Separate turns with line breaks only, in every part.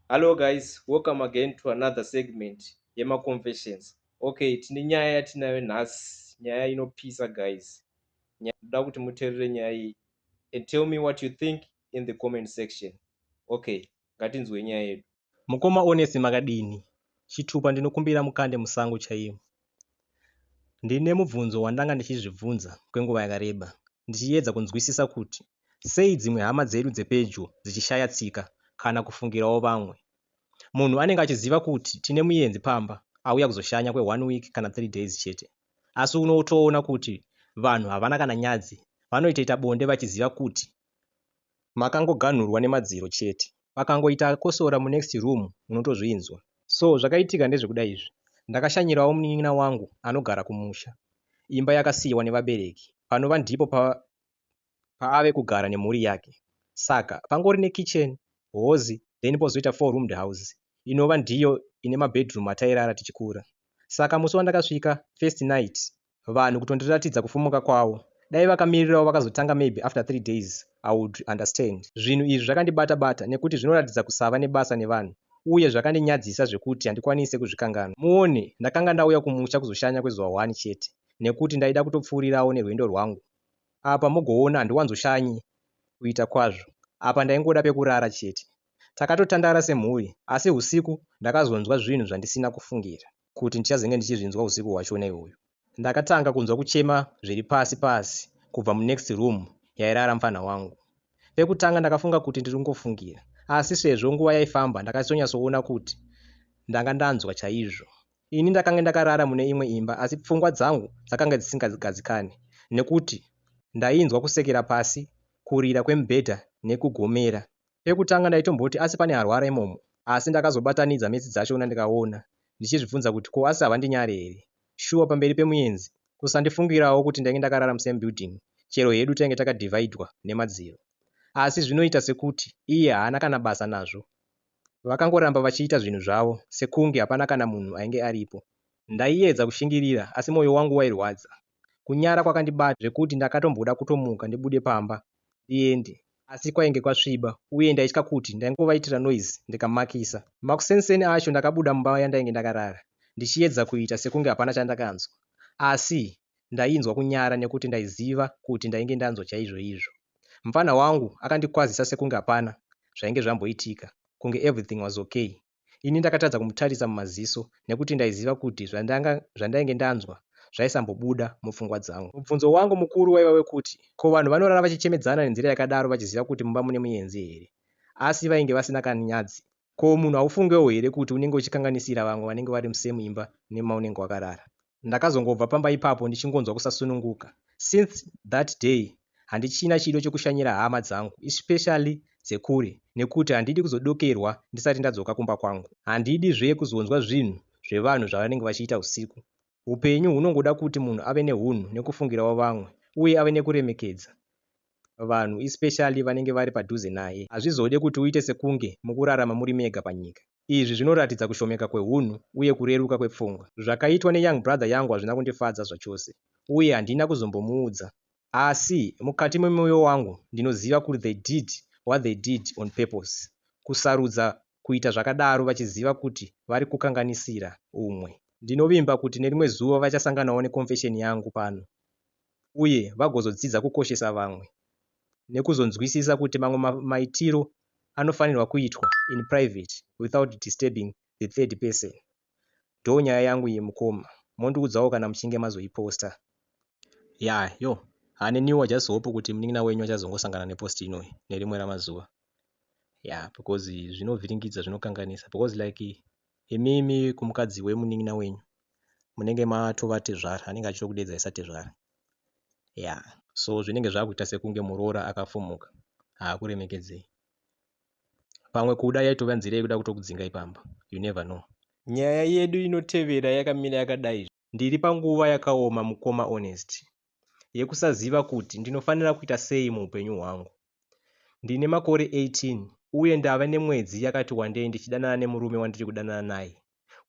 hallo guys welcome again to another segment yemaconfessions okay tine nyaya yatinayo nhasi nyaya inopisa guys ndoda kuti muterere nyaya iyi and tell me what you think in the comment section okay ngatinzwe nyaya yedu mukoma onesi makadini chitupa ndinokumbira mukande musango chaimo Ndine mubvunzo wandanga ndichizvibvunza kwenguva yakareba, ndichiedza kunzwisisa kuti sei dzimwe hama dzedu dzepedyo dzichishaya tsika kana kufungirawo vamwe. Munhu anenge achiziva kuti tine muyenzi pamba auya kuzoshanya kwe one week kana three days chete asi unotoona kuti vanhu havana kana nyadzi vanoitoita bonde vachiziva kuti makangoganhurwa nemadziro chete pakangoita akosora munext room unotozvinzwa. So zvakaitika ndezvekuda izvi. Ndakashanyirawo munin'ina wangu anogara kumusha, imba yakasiiwa nevabereki, panova ndipo paave kugara nemhuri yake. Saka pangori nekitchen, hozi then pozoita four roomed house inova ndiyo ine mabedroom atairara tichikura. Saka musi wandakasvika first night vanhu kutondiratidza kufumuka kwawo dai vakamirirawo vakazotanga maybe after three days i would understand zvinhu izvi zvakandibata bata nekuti zvinoratidza kusava nebasa nevanhu uye zvakandinyadzisa zvekuti handikwanise kuzvikanganwa muone ndakanga ndauya kumusha kuzoshanya kwezuva one chete nekuti ndaida kutopfuurirawo nerwendo rwangu apa mogoona handiwanzoshanyi kuita kwazvo apa ndaingoda pekurara chete takatotandara semhuri asi usiku ndakazonzwa zvinhu zvandisina kufungira kuti ndichazenge ndichizvinzwa usiku hwacho nei uyu. Ndakatanga kunzwa kuchema zviri pasi pasi kubva mu next room yairara mfanha wangu. Pekutanga ndakafunga kuti ndiri kungofungira asi sezvo nguva yaifamba ndakachitonyatsoona kuti ndanga ndanzwa chaizvo. Ini ndakange ndakarara mune imwe imba asi pfungwa dzangu dzakange dzisingagadzikane nekuti ndainzwa kusekera pasi, kurira kwemubhedha nekugomera Pekutanga ndaitomboti asi pane arwara imomo asi ndakazobatanidza metsi dzachona ndikaona ndichizvibvunza kuti ko asi havandinyare here shuwa pamberi pemuyenzi kusandifungirawo kuti ndainge ndakarara musame building chero hedu tainge takadivhaidhwa nemadziro asi zvinoita sekuti iye haana kana basa nazvo vakangoramba vachiita zvinhu zvavo sekunge hapana kana munhu ainge aripo ndaiedza kushingirira asi mwoyo wangu wairwadza Kunyara kwakandibata zvekuti ndakatomboda kutomuka ndibude pamba ndiende asi kwainge kwasviba uye ndaitya kuti ndaingovaitira noise ndikamakisa. Makuseni-seni acho ndakabuda mumba yandainge ndakarara ndichiedza kuita sekunge hapana chandakanzwa asi ndainzwa kunyara nekuti ndaiziva kuti ndainge ndanzwa chaizvoizvo. Mupfanha wangu akandikwazisa sekunge hapana zvainge zvamboitika kunge everything was okay. Ini ndakatadza kumutarisa mumaziso nekuti ndaiziva kuti zvandanga, zvandainge ndanzwa zvaisambobuda mupfungwa dzangu. Mubvunzo wangu mukuru waiva wekuti ko vanhu vanorara vachichemedzana nenzira yakadaro vachiziva kuti mumba mune muyenzi here? Asi vainge vasina kani nyadzi. Ko munhu haufungewo here kuti unenge uchikanganisira vamwe vanenge vari musame imba nemaunenge wakarara? Ndakazongobva pamba ipapo ndichingonzwa kusasununguka. Since that day handichina chido chekushanyira hama dzangu especially dzekure nekuti handidi kuzodokerwa ndisati ndadzoka kumba kwangu. Handidi zve kuzonzwa zvinhu zvevanhu zvavanenge vachiita usiku. Hupenyu hunongoda kuti munhu ave nehunhu nekufungirawo vamwe uye ave nekuremekedza vanhu especially vanenge vari padhuze naye. Hazvizode kuti uite sekunge mukurarama muri mega panyika. Izvi zvinoratidza kushomeka kwehunhu uye kureruka kwepfungwa. Zvakaitwa neyoung brother yangu hazvina kundifadza zvachose uye handina kuzombomuudza asi mukati memoyo wangu ndinoziva kuri they did what they did on purpose kusarudza kuita zvakadaro vachiziva kuti vari kukanganisira umwe. Ndinovimba kuti nerimwe zuva vachasanganawo neconfession yangu pano. uye vagozodzidza kukoshesa vamwe nekuzonzwisisa kuti mamwe maitiro anofanirwa kuitwa in private without disturbing the third person. Ndoo nyaya yangu iyi mukoma, mondiudzawo kana muchinge mazoiposta. Yaa yo haa neniwo just hope kuti munin'ina wenyu achazongosangana nepost inoyi nerimwe ramazuva yaa because zvinovhiringidza zvinokanganisa because like Imimi kumukadzi wemunin'ina wenyu munenge matova tezvara anenge achitokudeedzai satezvara. Yeah. So zvinenge zvakuita sekunge muroora akafumuka haakuremekedzei. Pamwe kuda yaitova nzira yekuda kutokudzingai pamba. You never know. Nyaya yedu inotevera yakamira yakadai. Ndiri panguva yakaoma mukoma Honest yekusaziva kuti ndinofanira kuita sei muupenyu hwangu. Ndine makore 18 uye ndave nemwedzi yakati wandei ndichidanana nemurume wandiri kudanana naye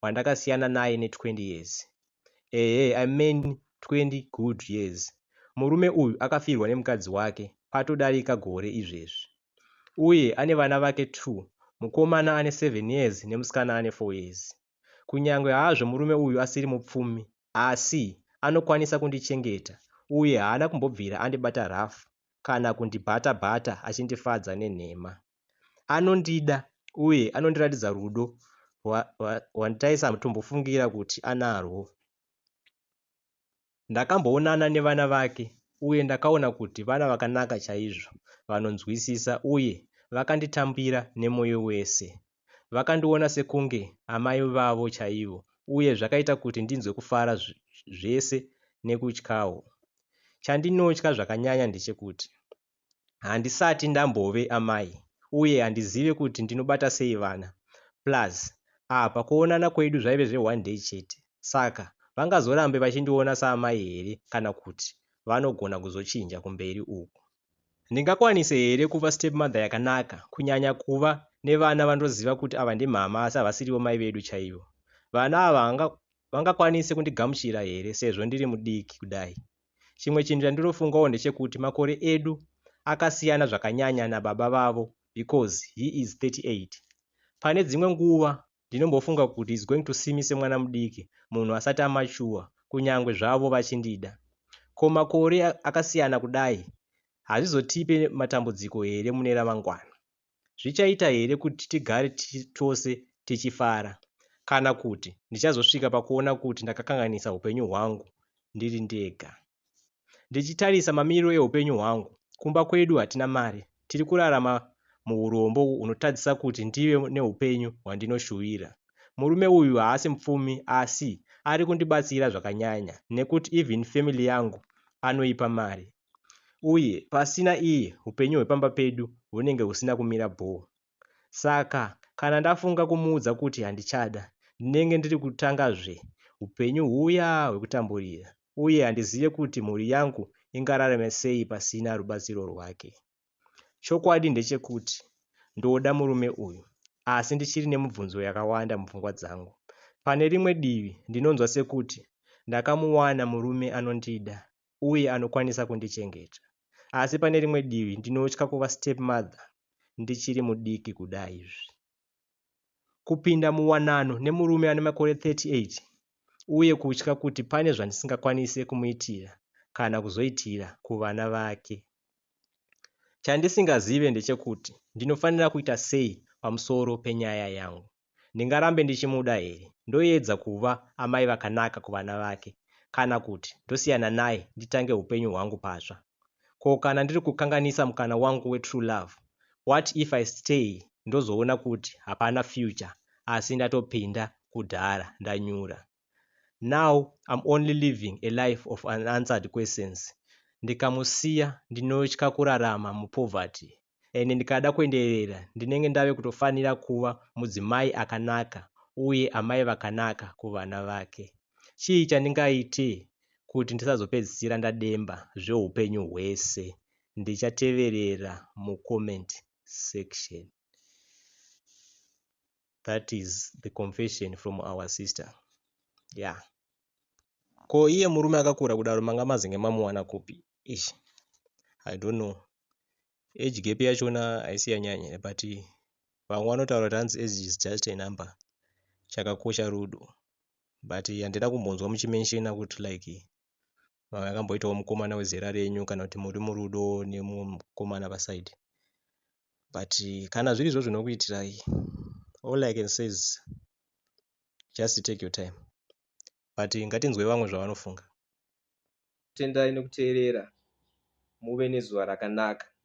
wandakasiyana naye ne20 years. Ehe I mean 20 good years. Murume uyu akafirwa nemukadzi wake patodarika gore izvezvi uye ane vana vake two, mukomana ane 7 years nemusikana ane 4 years. Kunyange hazvo murume uyu asiri mupfumi, asi anokwanisa kundichengeta uye haana kumbobvira andibata rafu kana kundibata-bata achindifadza nenhema. Anondida uye anondiratidza rudo rwandaisambofungira kuti anarwo. Ndakamboonana nevana vake uye ndakaona kuti vana vakanaka chaizvo, vanonzwisisa uye vakanditambira nemoyo wese. Vakandiona sekunge amai vavo chaivo uye zvakaita kuti ndinzwe kufara zvese nekutyawo. Chandinotya zvakanyanya ndechekuti Handisati ndambove amai uye handizive kuti ndinobata sei vana plus apa kuonana kwedu zvaive zve one day chete saka vangazorambe vachindiona saamai here kana kuti vanogona kuzochinja kumberi uku. Ndingakwanise here kuva stepmother yakanaka kunyanya kuva nevana vandoziva kuti ava ndimama asi havasirivo mai vedu chaivo. Vana ava vangakwanise kundigamuchira here sezvo ndiri mudiki kudai chimwe chinhu chandinofungawo ndechekuti makore edu akasiyana zvakanyanya nababa vavo because he is 38 pane dzimwe nguva ndinombofunga kuti is going to see me semwana mudiki munhu asati amachuwa kunyange zvavo vachindida ko makore akasiyana kudai hazvizotipe matambudziko here mune ramangwana Zvichaita here kuti tigare tose tichifara? Kana kuti ndichazosvika pakuona kuti ndakakanganisa upenyu hwangu ndiri ndega? Ndichitarisa mamiriro eupenyu hwangu, kumba kwedu hatina mari, tiri kurarama muurombo hunotadzisa kuti ndive neupenyu hwandinoshuvira. Murume uyu haasi mupfumi asi ari kundibatsira zvakanyanya nekuti even family yangu anoipa mari. uye pasina iye upenyu hwepamba pedu hunenge husina kumira bhoo. Saka kana ndafunga kumuudza kuti handichada, ndinenge ndiri kutangazve upenyu huya hwekutamburira uye handizive kuti mhuri yangu ingararame sei pasina rubatsiro rwake. Chokwadi ndechekuti ndoda murume uyu asi ndichiri nemibvunzo yakawanda mupfungwa dzangu. Pane rimwe divi ndinonzwa sekuti ndakamuwana murume anondida uye anokwanisa kundichengeta. Asi pane rimwe divi ndinotya kuva stepmother ndichiri mudiki kudai izvi. Kupinda muwanano nemurume ane makore 38 uye kutya kuti pane zvandisingakwanise kumuitira kana kuzoitira kuvana vake. Chandisingazive ndechekuti ndinofanira kuita sei pamusoro penyaya yangu. Ndingarambe ndichimuda here? Ndoedza kuva amai vakanaka kuvana vake kana kuti ndosiyana naye nditange upenyu hwangu patsva? Ko kana ndiri kukanganisa mukana wangu wetrue love? What if I stay ndozoona kuti hapana future asi ndatopinda kudhara ndanyura? now I'm only living a life of unanswered questions ndikamusiya ndinotya kurarama mupoverty and ndikada kuenderera ndinenge ndave kutofanira kuva mudzimai akanaka uye amai vakanaka kuvana vake chii chandingaite kuti ndisazopedzisira ndademba zveupenyu hwese ndichateverera mucomment section that is the confession from our sister yeah ko iye murume akakura kudaro manga mazinge mamuwana kupi ish i don't know age gap yachona haisi yanyanya but vamwe vanotaura kuti hanzi age is just a number chakakosha rudo but handina kumbonzwa muchimenshina kuti like Mamwe akamboitawo mukomana wezera renyu kana kuti muri murudo nemumwe mukomana paside. But kana zviri izvo zvinokuitirai, all I can say is just take your time. But ngatinzwe vamwe zvavanofunga. Tendai nekuteerera muve nezuva rakanaka.